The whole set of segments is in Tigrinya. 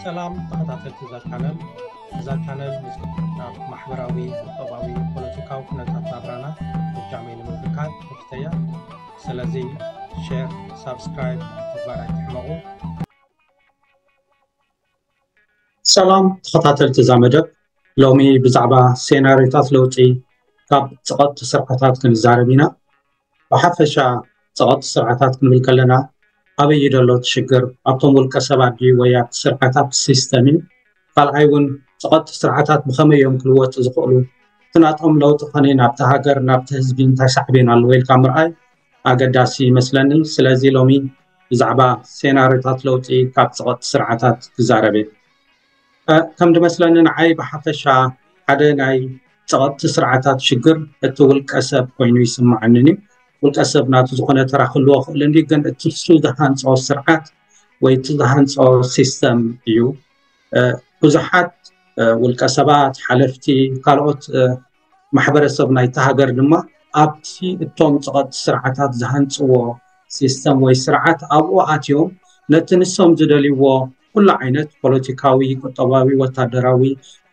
ሰላም ተኸታተልቲ እዛ ቻነል እዛ ቻነል ምስናብ ማሕበራዊ ቁጠባዊ ፖለቲካዊ ኩነታት ናብራና ብጃመይ ንምብካት ክፍተያ ስለዚ ሸር ሳብስክራይብ ምግባር ኣይትሕመቑ ሰላም ተኸታተልቲ እዛ መደብ ሎሚ ብዛዕባ ሴናሪዮታት ለውጢ ካብ ፀቐጥቲ ስርዓታት ክንዛረብ ኢና ብሓፈሻ ፀቐጥቲ ስርዓታት ክንብል ከለና ኣበይ እዩ ዘሎ እቲ ሽግር ኣብቶም ውልቀ ሰባት ድዩ ወይ ኣብቲ ስርዓት ኣብቲ ሲስተም እዩ ካልኣይ እውን ፀቐጥቲ ስርዓታት ብኸመይ እዮም ክልወጡ ዝኽእሉ እቲ ናቶም ለውጢ ኸነ ናብቲ ሃገር ናብቲ ህዝቢ እንታይ ሳዕቤን ኣለዎ ኢልካ ምርኣይ ኣገዳሲ ይመስለኒ ስለዚ ሎሚ ብዛዕባ ሴናርዮታት ለውጢ ካብ ፀቐጥ ስርዓታት ክዛረብ እየ ከም ድመስለኒ ንዓይ ብሓፈሻ ሓደ ናይ ፀቐጥቲ ስርዓታት ሽግር እቲ ውልቀ ሰብ ኮይኑ ይስምዓንን እዩ ውልቀ ሰብ ናቱ ዝኾነ ተራ ክህልዎ ክእል እንዲ ግን እቲ ንሱ ዝሃንፆ ስርዓት ወይ እቲ ዝሃንፆ ሲስተም እዩ ብዙሓት ውልቀ ሰባት ሓለፍቲ ካልኦት ማሕበረሰብ ናይቲ ሃገር ድማ ኣብቲ እቶም ፀቐጥቲ ስርዓታት ዝሃንፅዎ ሲስተም ወይ ስርዓት ኣብኡ ኣትዮም ነቲ ንሶም ዝደልይዎ ኩሉ ዓይነት ፖለቲካዊ፣ ቁጠባዊ፣ ወታደራዊ፣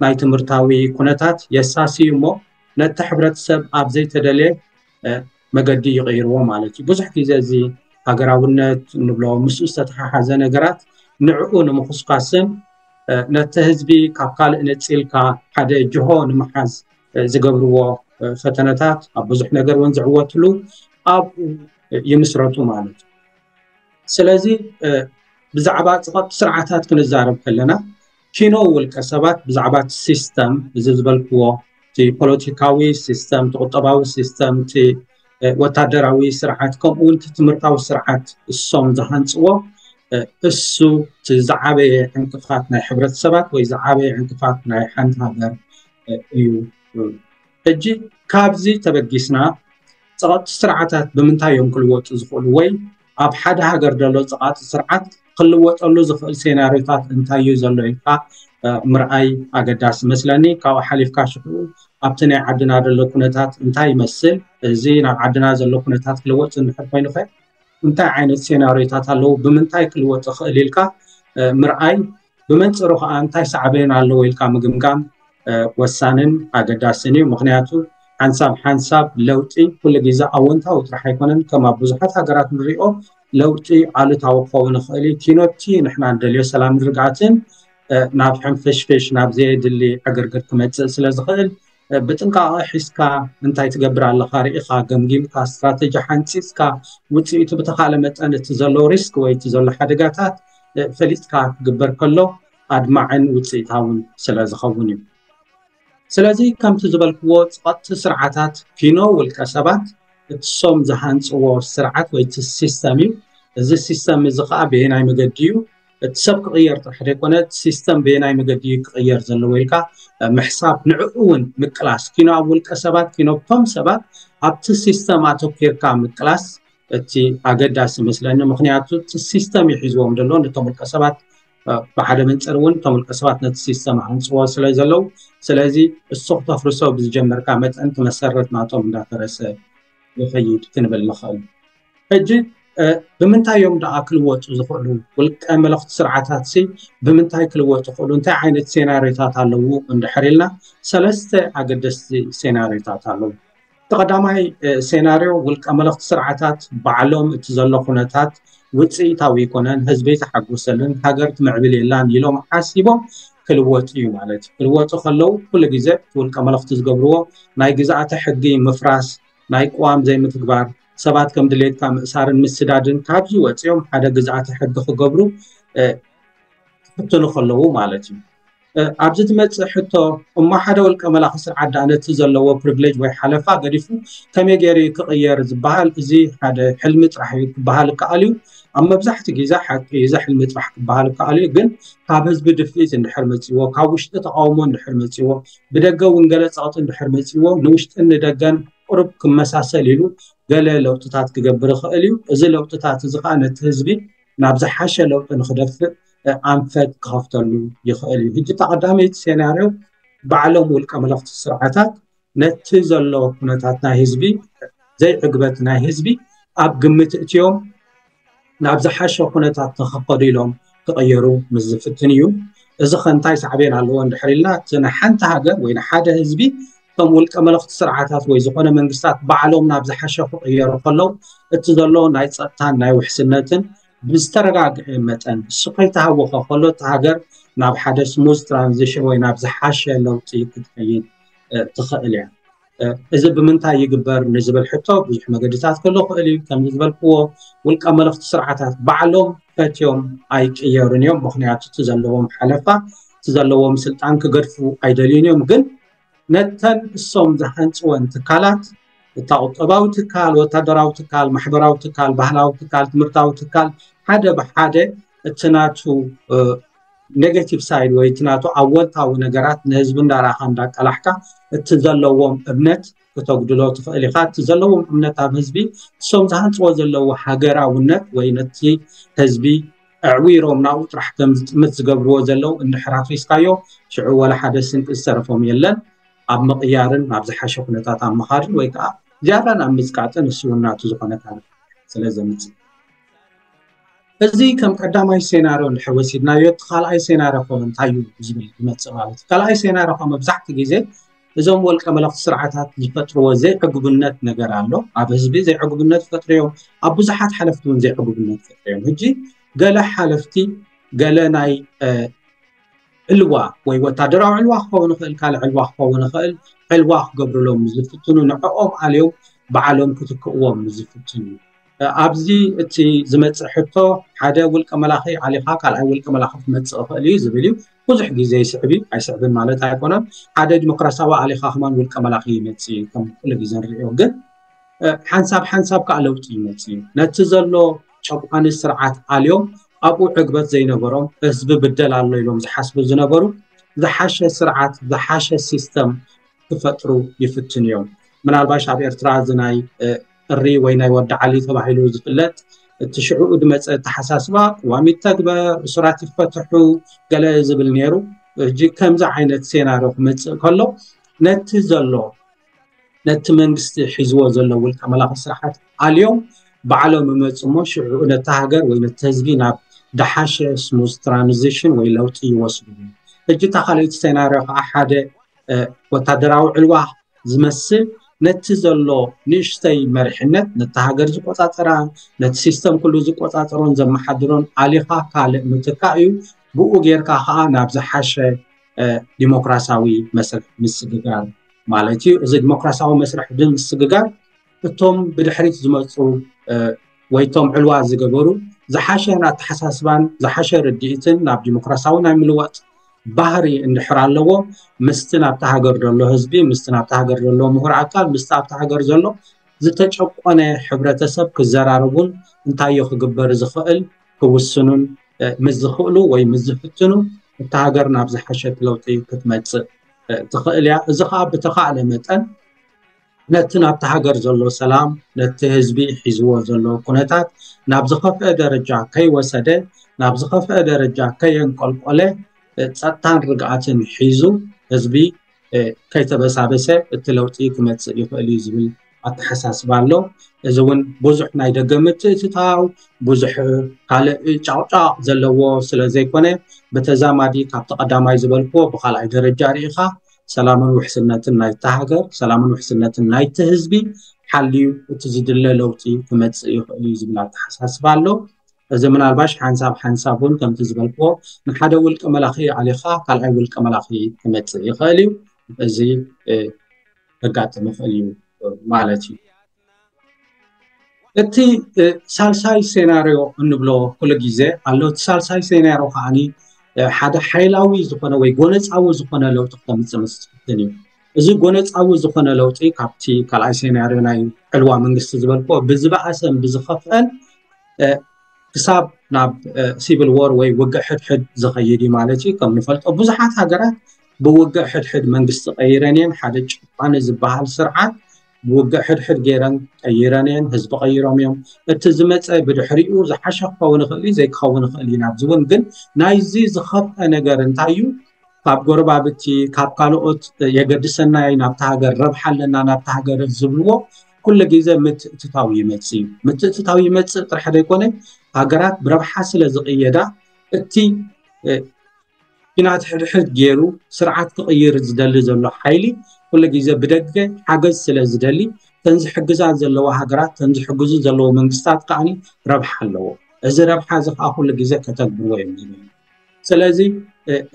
ናይ ትምህርታዊ ኩነታት የሳስዩ እሞ ነቲ ሕብረተሰብ ኣብ ዘይተደልየ መገዲ ይቕይርዎ ማለት እዩ ብዙሕ ግዜ እዚ ሃገራውነት እንብሎ ምስኡ ዝተተሓሓዘ ነገራት ንዕኡ ንምኹስኳስን ነቲ ህዝቢ ካብ ካልእ ነፂልካ ሓደ ጅሆ ንምሓዝ ዝገብርዎ ፈተነታት ኣብ ብዙሕ ነገር እውን ዝዕወትሉ ኣብኡ ይምስረቱ ማለት እዩ ስለዚ ብዛዕባ ፀቐብቲ ስርዓታት ክንዛረብ ከለና ኪኖ ውልቀ ሰባት ብዛዕባ እቲ ሲስተም እዚ ዝበልክዎ እቲ ፖለቲካዊ ሲስተም፣ እቲ ቁጠባዊ ሲስተም፣ እቲ ወታደራዊ ስርዓት ከምኡ እውን እቲ ትምህርታዊ ስርዓት እሶም ዝሃንፅዎ እሱ እቲ ዝዓበየ ዕንቅፋት ናይ ሕብረተሰባት ወይ ዝዓበየ ዕንቅፋት ናይ ሓንቲ ሃገር እዩ። ሕጂ ካብዚ ተበጊስና ፀቐጥቲ ስርዓታት ብምንታይ እዮም ክልወጡ ዝኽእሉ ወይ ኣብ ሓደ ሃገር ዘሎ ፀቓጢ ስርዓት ክልወጠሉ ዝኽእል ሴናሪዮታት እንታይ እዩ ዘሎ ኢልካ ምርኣይ ኣገዳሲ መስለኒ ካብኡ ሓሊፍካ ሽዑ ኣብቲ ናይ ዓድና ዘሎ ኩነታት እንታይ ይመስል እዚ ናብ ዓድና ዘሎ ኩነታት ክልወጥ ዝንሕር ኮይኑ ኸ እንታይ ዓይነት ሴናሪዮታት ኣለዉ ብምንታይ ክልወጥ ይኽእል ኢልካ ምርኣይ ብመንፅሩ ከዓ እንታይ ሳዕቤን ኣለዎ ኢልካ ምግምጋም ወሳንን ኣገዳስን እዩ ምክንያቱ ሓንሳብ ሓንሳብ ለውጢ ኩሉ ግዜ ኣወንታዊ ጥራሕ ኣይኮነን ከም ኣብ ብዙሓት ሃገራት ንሪኦ ለውጢ ኣሉታዊ ክኸውን ይኽእል እዩ ኪኖቲ ንሕና ንደልዮ ሰላም ርግኣትን ናብ ሕንፍሽፍሽ ናብ ዘየድሊ ዕግርግር ክመፅእ ስለ ዝኽእል ብጥንቃቐ ሒዝካ እንታይ ትገብር ኣለኻ ርኢኻ ገምጊምካ ስትራተጂ ሓንፂፅካ ውፅኢቱ ብተኻእለ መጠን እቲ ዘሎ ሪስክ ወይ እቲ ዘሎ ሓደጋታት ፈሊጥካ ክግበር ከሎ ኣድማዕን ውፅኢታውን ስለ ዝኸውን እዩ ስለዚ ከምቲ ዝበልክዎ ፀቐጥቲ ስርዓታት ኪኖ ውልቀ ሰባት እትሶም ዝሃንፅዎ ስርዓት ወይ እቲ ሲስተም እዩ እዚ ሲስተም እዚ ከዓ ብየናይ መገዲ እዩ እቲ ሰብ ክቕየር ጥራሕ ዘይኮነ እቲ ሲስተም በየናይ መገዲ እዩ ክቕየር ዘለዎ ኢልካ ምሕሳብ ንዕኡ እውን ምቅላስ ኪኖ ኣብ ውልቀ ሰባት ኪኖ ቶም ሰባት ኣብቲ ሲስተም ኣተኪርካ ምቅላስ እቲ ኣገዳሲ መስለኒ ምክንያቱ እቲ ሲስተም እዩ ሒዝዎም ዘሎ ነቶም ውልቀ ሰባት ብሓደ መንፅር እውን እቶም ውልቀ ሰባት ነቲ ሲስተም ሃንፅዎ ስለ ዘለው ስለዚ እሱ ክተፍርሶ ብዝጀመርካ መጠን እቲ መሰረት ናቶም እንዳፈረሰ ይኸይድ ክንብል ንኽእል። ሕጂ ብምንታይ እዮም ደኣ ክልወጡ ዝኽእሉ ውልቀ መለኽቲ ስርዓታት ሲ ብምንታይ ክልወጡ ይኽእሉ እንታይ ዓይነት ሴናሪዮታት ኣለዉ እንድሕር ኢልና ሰለስተ ኣገደስቲ ሴናሪዮታት ኣለዉ እቲ ቀዳማይ ሴናሪዮ ውልቀ መለኽቲ ስርዓታት ባዕሎም እቲ ዘሎ ኩነታት ውፅኢታዊ ይኮነን ህዝቢ ተሓጎሰልን ሃገር ትምዕብል የላን ኢሎም ሓሲቦም ክልወጥ እዩ ማለት እዩ። ክልወጡ ከለው ኩሉ ግዜ እቲ ውልቀ መለኽቲ ዝገብርዎ ናይ ግዝኣተ ሕጊ ምፍራስ፣ ናይ ቅዋም ዘይምትግባር፣ ሰባት ከም ድሌትካ ምእሳርን ምስዳድን ካብዚ ወፂኦም ሓደ ግዝኣተ ሕጊ ክገብሩ ክፍትኑ ከለው ማለት እዩ። ኣብዚ ትመፅእ ሕቶ እሞ ሓደ ውልቀ መላኺ ስርዓት ዳኣ ነቲ ዘለዎ ፕሪቪሌጅ ወይ ሓለፋ ገዲፉ ከመይ ገይሩ እዩ ክቕየር ዝበሃል እዚ ሓደ ሕልሚ ጥራሕ እዩ ክበሃል ይከኣል እዩ። ኣብ መብዛሕትኡ ግዜ ሓቂ እዩ እዚ ሕልሚ ጥራሕ ክበሃል ይከኣል እዩ ግን ካብ ህዝቢ ድፍኢት እንድሕር መጺዎ፣ ካብ ውሽጢ ተቓውሞ እንድሕር መጺዎ፣ ብደገ እውን ገለ ጸቕጢ እንድሕር መጺዎ፣ ንውሽጥን ንደገን ቁሩብ ክመሳሰል ኢሉ ገለ ለውጥታት ክገብር ይኽእል እዩ። እዚ ለውጥታት እዚ ከኣ ነቲ ህዝቢ ናብ ዝሓሸ ለውጢ ንክደፍእ ኣንፈት ክኸፍተሉ ይኽእል እዩ። ሕጂ እታ ቀዳመይቲ ሴናርዮ ባዕሎም ውልቀ መለኽቲ ስርዓታት ነቲ ዘሎ ኩነታት ናይ ህዝቢ ዘይዕግበት ናይ ህዝቢ ኣብ ግምት እትዮም ናብ ዝሓሸ ኩነታት ንክኸዱ ኢሎም ክቐየሩ ምስ ዝፍትን እዩ እዚ ከ እንታይ ሳዕቤን ኣለዎ እንድሕር ኢልና እቲ ንሓንቲ ሃገር ወይ ንሓደ ህዝቢ እቶም ውልቀ መለኽቲ ስርዓታት ወይ ዝኾነ መንግስታት ባዕሎም ናብ ዝሓሸ ክቕየሩ ከለው እቲ ዘሎ ናይ ፀጥታን ናይ ውሕስነትን ብዝተረጋግዐ መጠን እሱ ከይተሃወኸ ከሎ እቲ ሃገር ናብ ሓደ ስሙዝ ትራንዚሽን ወይ ናብ ዝሓሸ ለውጢ ክትከይድ ትኽእል እያ እዚ ብምንታይ ይግበር ንዝብል ሕቶ ብዙሕ መገድታት ከሎ ክእል እዩ ከምዚ ዝበልክዎ ውልቀ መለኽቲ ስርዓታት ባዕሎም ፈትዮም ኣይቅየሩን እዮም ምክንያቱ እቲ ዘለዎም ሓለፋ እቲ ዘለዎም ስልጣን ክገድፉ ኣይደልዩን እዮም ግን ነተን እሶም ዝሃንፅወን ትካላት እታ ቁጠባዊ ትካል ወታደራዊ ትካል ማሕበራዊ ትካል ባህላዊ ትካል ትምህርታዊ ትካል ሓደ ብሓደ እቲ ናቱ ኔጋቲቭ ሳይድ ወይ እቲ ናቱ ኣወንታዊ ነገራት ንህዝቢ እንዳራኻ እንዳቀላሕካ እቲ ዘለዎም እምነት ክተጉድሎ ትኽእል ኢኻ እቲ ዘለዎም እምነት ኣብ ህዝቢ እሶም ዝሃንፅዎ ዘለዉ ሃገራውነት ወይ ነቲ ህዝቢ ኣዕዊሮም ናብኡ ጥራሕ ከም ዝጥምት ዝገብርዎ ዘለዉ እንድሕር ኣፍሪስካዮ ሽዑ ወላ ሓደ ስንቂ ዝተረፎም የለን ኣብ ምቕያርን ናብ ዝሓሸ ኩነታት ኣብ ምኻድን ወይ ከዓ ዝያዳ ናብ ምፅቃጥን ንሱ እውን ናቱ ዝኾነ ታሪክ ስለ ዘምፅእ እዚ ከም ቀዳማይ ሴናርዮ እንድሕር ወሲድናዮ እቲ ካልኣይ ሴናርዮ ከ እንታይ እዩ ዝብል ይመፅእ ማለት እዩ ካልኣይ ሴናርዮ ከ መብዛሕትኡ ግዜ እዞም ወልቀ መለኽቲ ስርዓታት ዝፈጥርዎ ዘይዕጉብነት ነገር ኣሎ ኣብ ህዝቢ ዘይዕጉብነት ፈጥርዮም ኣብ ብዙሓት ሓለፍቲ እውን ዘይዕጉብነት ፈጥርዮም ሕጂ ገለ ሓለፍቲ ገለ ናይ ዕልዋ ወይ ወታደራዊ ዕልዋ ክኸውን ይኽእል ካልእ ዕልዋ ክኸውን ይኽእል ዕልዋ ክገብርሎም ዝፍትኑ ንዕኦም ኣልዮም ባዕሎም ክትክእዎም ዝፍትኑ ኣብዚ እቲ ዝመፅእ ሕቶ ሓደ ውልቀ መላኺ ዓሊኻ ካልኣይ ውልቀ መላኺ ክመፅእ ይኽእል እዩ ዝብል እዩ ብዙሕ ግዜ ይስዕብ እዩ ኣይስዕብን ማለት ኣይኮነን ሓደ ዲሞክራሲያዊ ዓሊኻ ከማን ውልቀ መላኺ ይመፅእ እዩ ከም ኩሉ ግዜ ንሪኦ ግን ሓንሳብ ሓንሳብ ከዓ ለውጢ ይመፅእ እዩ ነቲ ዘሎ ጨቋኒ ስርዓት ኣልዮም ኣብኡ ዕግበት ዘይነበሮም ህዝቢ ብደል ኣሎ ኢሎም ዝሓስቡ ዝነበሩ ዝሓሸ ስርዓት ዝሓሸ ሲስተም ክፈጥሩ ይፍትኑ እዮም ምናልባሽ ኣብ ኤርትራ እዚ ናይ ጥሪ ወይ ናይ ወዲ ዓሊ ተባሂሉ ዝፍለጥ እቲ ሽዕኡ ድመፀ ኣተሓሳስባ ቅዋም ይተግበር እሱራት ይፈትሑ ገለ ዝብል ነይሩ ሕጂ ከምዚ ዓይነት ሴናሮ ክመፅእ ከሎ ነቲ ዘሎ ነቲ መንግስቲ ሒዝዎ ዘሎ ውልቀ መላኺ ስርዓት ኣልዮም ባዕሎም ይመፁ እሞ ሽዑ ነቲ ሃገር ወይ ነቲ ህዝቢ ናብ ደሓሸ ስሙዝ ትራንዚሽን ወይ ለውጢ ይወስዱ ሕጂ እታ ካልኦት ሴናርዮ ከዓ ሓደ ወታደራዊ ዕልዋ ዝመስል ነቲ ዘሎ ንእሽተይ መሪሕነት ነቲ ሃገር ዝቆፃፀራ ነቲ ሲስተም ኩሉ ዝቆፃፀሮን ዘመሓድሮን ኣሊኻ ካልእ ምትካእ እዩ ብኡ ጌርካ ከዓ ናብ ዝሓሸ ዲሞክራሲያዊ መስርሕ ምስግጋር ማለት እዩ እዚ ዲሞክራሲያዊ መስርሕ ብምስግጋር እቶም ብድሕሪት ዝመፁ ወይ እቶም ዕልዋ ዝገበሩ ዝሓሸ ኣተሓሳስባን ዝሓሸ ርድኢትን ናብ ዲሞክራሲያዊ ናይ ምልዋጥ ባህሪ እንድሕር ኣለዎ ምስቲ ናብቲ ሃገር ዘሎ ህዝቢ ምስቲ ናብቲ ሃገር ዘሎ ምሁር ኣካል ምስቲ ኣብቲ ሃገር ዘሎ ዝተጨቆነ ሕብረተሰብ ክዘራረቡን እንታዮ ክግበር ዝኽእል ክውስኑን ምስ ዝኽእሉ ወይ ምስ ዝፍትኑ እታ ሃገር ናብ ዝሓሸት ለውጢ ክትመፅእ ትኽእል እያ እዚ ከዓ ብተኻእለ መጠን ነቲ ናብቲ ሃገር ዘሎ ሰላም ነቲ ህዝቢ ሒዝዎ ዘሎ ኩነታት ናብ ዝኸፍአ ደረጃ ከይወሰደ ናብ ዝኸፍአ ደረጃ ከየንቆልቆለ ፀጥታን ርግኣትን ሒዙ ህዝቢ ከይተበሳበሰ እቲ ለውጢ ክመፅእ ይኽእል እዩ ዝብል ኣተሓሳስባ ኣሎ እዚ እውን ብዙሕ ናይ ደገ ምትእትታው ብዙሕ ካልእ ጫቕጫቕ ዘለዎ ስለ ዘይኮነ ብተዛማዲ ካብቲ ቀዳማይ ዝበልክዎ ብካልኣይ ደረጃ ርኢኻ ሰላምን ውሕስነትን ናይታ ሃገር ሰላምን ውሕስነትን ናይቲ ህዝቢ ሓልዩ እቲ ዝድለ ለውጢ ክመፅእ ይኽእል እዩ ዝብል ኣተሓሳስባ ኣሎ እዚ ምናልባሽ ሓንሳብ ሓንሳብ እውን ከምቲ ዝበልክዎ ንሓደ ውልቀ መላኺ ኣሊኻ ካልኣይ ውልቀ መላኺ ክመፅእ ይኽእል እዩ እዚ ከጋጥም ይኽእል እዩ ማለት እዩ እቲ ሳልሳይ ሴናርዮ እንብሎ ኩሉ ግዜ ኣሎ እቲ ሳልሳይ ሴናርዮ ከዓ ሓደ ሓይላዊ ዝኮነ ወይ ጎነፃዊ ዝኮነ ለውጢ ክተምፅእ ምስ ትፍትን እዩ እዚ ጎነፃዊ ዝኮነ ለውጢ ካብቲ ካልኣይ ሴናርዮ ናይ ዕልዋ መንግስቲ ዝበልክዎ ብዝበኣሰን ብዝከፍአን ክሳብ ናብ ሲቪል ዎር ወይ ውግእ ሕድሕድ ዝከይድ እዩ ማለት እዩ ከም ንፈልጦ ብዙሓት ሃገራት ብውግእ ሕድሕድ መንግስቲ ቀይረን እየን ሓደ ጭቋኒ ዝበሃል ስርዓት ንውግእ ሕድሕድ ገይረን ቀይረን እየን ህዝቢ ቀይሮም እዮም እቲ ዝመፀ ብድሕሪኡ ዝሓሸ ክኸውን ይኽእል እዩ ዘይክኸውን ይኽእል እዩ ናብዚ እውን ግን ናይዚ ዝኸፍአ ነገር እንታይ እዩ ካብ ጎረባብቲ ካብ ካልኦት የገድሰና እዩ ናብቲ ሃገር ረብሓ ኣለና ናብቲ ሃገር ዝብልዎ ኩሉ ግዜ ምትእትታው ይመፅ እዩ ምትእትታው ይመፅእ ጥራሕ ዘይኮነ ሃገራት ብረብሓ ስለ ዝቕየዳ እቲ ኲናት ሕድሕድ ገይሩ ስርዓት ክቕይር ዝደሊ ዘሎ ሓይሊ ኩሉ ግዜ ብደገ ሓገዝ ስለ ዝደሊ እተን ዝሕግዛ ዘለዋ ሃገራት እተን ዝሕግዙ ዘለዎ መንግስታት ከዓኒ ረብሓ ኣለዎ እዚ ረብሓ እዚ ከዓ ኩሉ ግዜ ከተግብርዎ እዮም ዝብል ስለዚ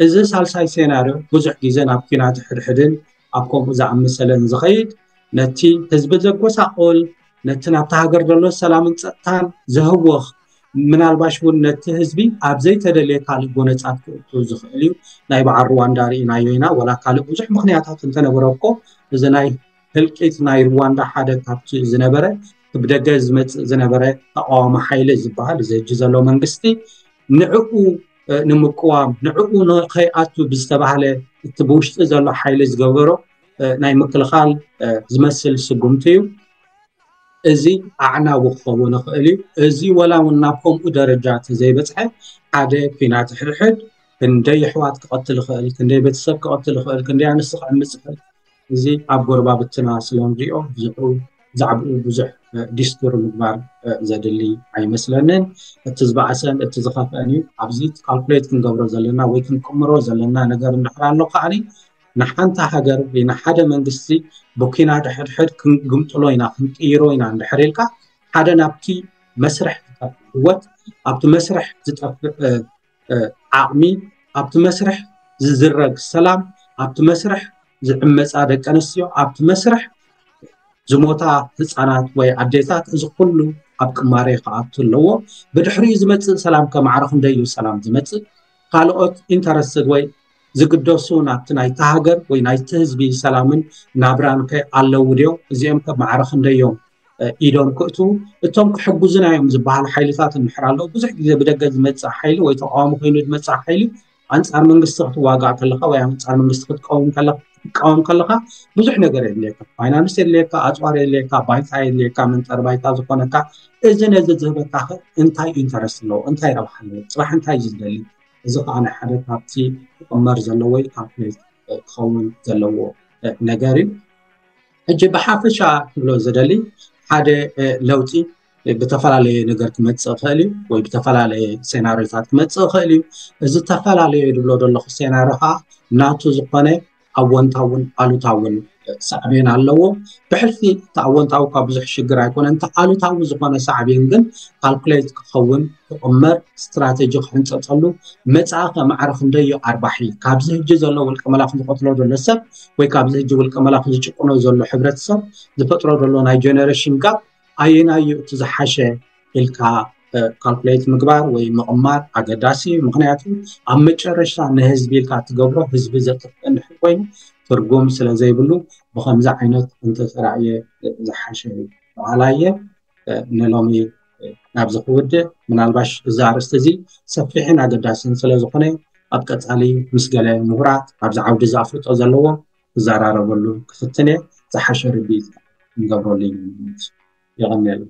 እዚ ሳልሳይ ሴናርዮ ብዙሕ ግዜ ናብ ኲናት ሕድሕድን ኣብ ከምኡ ዝኣመሰለ ንዝኸይድ ነቲ ህዝቢ ዘጎሳቆል ነቲ ናብቲ ሃገር ዘሎ ሰላምን ፀጥታን ዘህወኽ ምናልባሽ እውን ነቲ ህዝቢ ኣብ ዘይተደልየ ካልእ ጎነፃት ክእቱ ዝኽእል እዩ ናይ በዓል ሩዋንዳ ርኢናዮ ኢና ወላ ካልእ ብዙሕ ምክንያታት እንተነበረ እኮ እዚ ናይ ህልቂት ናይ ሩዋንዳ ሓደ ካብቲ ዝነበረ ብደገ ዝመፅእ ዝነበረ ተቃዋሚ ሓይሊ ዝበሃል እዚ ሕጂ ዘሎ መንግስቲ ንዕኡ ንምቅዋም ንዕኡ ንከይኣቱ ብዝተባሃለ እቲ ብውሽጢ ዘሎ ሓይሊ ዝገበሮ ናይ ምክልኻል ዝመስል ስጉምቲ እዩ እዚ ኣዕናዊ ክኸውን ይኽእል እዩ እዚ ወላ እውን ናብ ከምኡ ደረጃ ተዘይበፅሐ ሓደ ኩናት ሕድሕድ ክንደይ ኣሕዋት ክቐትል ይኽእል ክንደይ ቤተሰብ ክቐትል ይኽእል ክንደይ ኣንስቲ ክዕምፅ ይኽእል እዚ ኣብ ጎረባብትና ስለ እንሪኦ ብዛዕብኡ ብዙሕ ዲስኩር ምግባር ዘድሊ ኣይመስለንን። እቲ ዝበኣሰን እቲ ዝኸፍአን እዩ። ኣብዚ ካልኩሌት ክንገብሮ ዘለና ወይ ክንቅምሮ ዘለና ነገር እንድሕር ኣሎ ከዓኒ ንሓንቲ ሃገር ወይ ንሓደ መንግስቲ ብኲናት ሕድሕድ ክንግምጥሎ ኢና ክንቅይሮ ኢና እንድሕር ኢልካ ሓደ ናብቲ መስርሕ ዝጠፍእ ህወት ኣብቲ መስርሕ ዝጠፍእ ዓቕሚ ኣብቲ መስርሕ ዝዝረግ ሰላም ኣብቲ መስርሕ ዝዕመፃ ደቂ ኣንስትዮ ኣብቲ መስርሕ ዝሞታ ህፃናት ወይ ኣዴታት እዚ ኩሉ ኣብ ቅማሬ ክኣቱ ኣለዎ ብድሕሪኡ ዝመፅእ ሰላም ከማዕረ ክንደይ እዩ ሰላም ዝመፅእ ካልኦት ኢንተረስትድ ወይ ዝግደሱ ናብቲ ናይቲ ሃገር ወይ ናይቲ ህዝቢ ሰላምን ናብራን ከ ኣለዉ ድዮም እዚኦም ከማዕረ ክንደይ እዮም ኢዶም ክእትዉ እቶም ክሕግዙና እዮም ዝበሃሉ ሓይልታት እንድሕር ኣለዉ ብዙሕ ግዜ ብደገ ዝመፅእ ሓይሊ ወይ ተቃዋሚ ኮይኑ ዝመፅእ ሓይሊ ኣንፃር መንግስቲ ክትዋጋእ ከለካ ወይ ኣንፃር መንግስቲ ክትቀውም ከለካ ክትቃወም ከለካ ብዙሕ ነገር የድልየካ ፋይናንስ የድልየካ ኣፅዋር የድልየካ ባይታ የድልየካ መንጠሪ ባይታ ዝኾነካ እዚ ነዚ ዝህበካ ኸ እንታይ ኢንተረስት ኣለዎ እንታይ ረብሓ ኣለዎ ፅባሕ እንታይ እዩ ዝደሊ እዚ ከዓ ናይ ሓደ ካብቲ ክቕመር ዘለዎ ወይ ካልኩሌት ክኸውን ዘለዎ ነገር እዩ ሕጂ ብሓፈሻ ክብሎ ዝደሊ ሓደ ለውጢ ብተፈላለየ ነገር ክመፅእ ይኽእል እዩ ወይ ብተፈላለየ ሴናሪዮታት ክመፅእ ይኽእል እዩ እዚ ዝተፈላለየ ዝብሎ ዘለኹ ሴናሪዮ ከዓ ናቱ ዝኾነ ኣወንታውን ኣሉታውን ሳዕቤን ኣለዎ ብሕልፊ እቲ ኣወንታዊ እኳ ብዙሕ ሽግር ኣይኮነ እንተ ኣሉታዊ ዝኾነ ሳዕቤን ግን ካልኩሌት ክኸውን ክቕመር ስትራቴጂ ክሕንፀፀሉ መፃኢ ከማዕረ ክንደዮ ኣርባሒ ካብዚ ህጂ ዘሎ ውልቀ መላኽ ዝቐትሎ ዘሎ ሰብ ወይ ካብዚ ሕጂ ውልቀ መላኺ ዝጭቁኖ ዘሎ ሕብረተሰብ ዝፈጥሮ ዘሎ ናይ ጀነሬሽን ጋብ ኣየናይ እዩ እቲ ዝሓሸ ኢልካ ካልኩሌት ምግባር ወይ ምቕማር ኣገዳሲ እዩ ምክንያቱ ኣብ መጨረሻ ንህዝቢ ኢልካ ትገብሮ ህዝቢ ዘጥፍእ እንድሕር ኮይኑ ትርጉም ስለ ዘይብሉ ብከምዚ ዓይነት እንተተራእየ ዝሓሸ እዩ በሃላይ እየ ንሎሚ ናብዚ ክውድእ ምናልባሽ እዚ ኣርእስቲ እዚ ሰፊሕን ኣገዳስን ስለዝኾነ ኣብ ቀፃሊ ምስ ገለ ሙሁራት ኣብዚ ዓውዲ እዚ ኣፍልጦ ዘለዎም ክዘራረበሉ ክፍትን እየ ዝሓሸ ርድኢት ንገብረሉ ኢና ንብል የቀንየልና።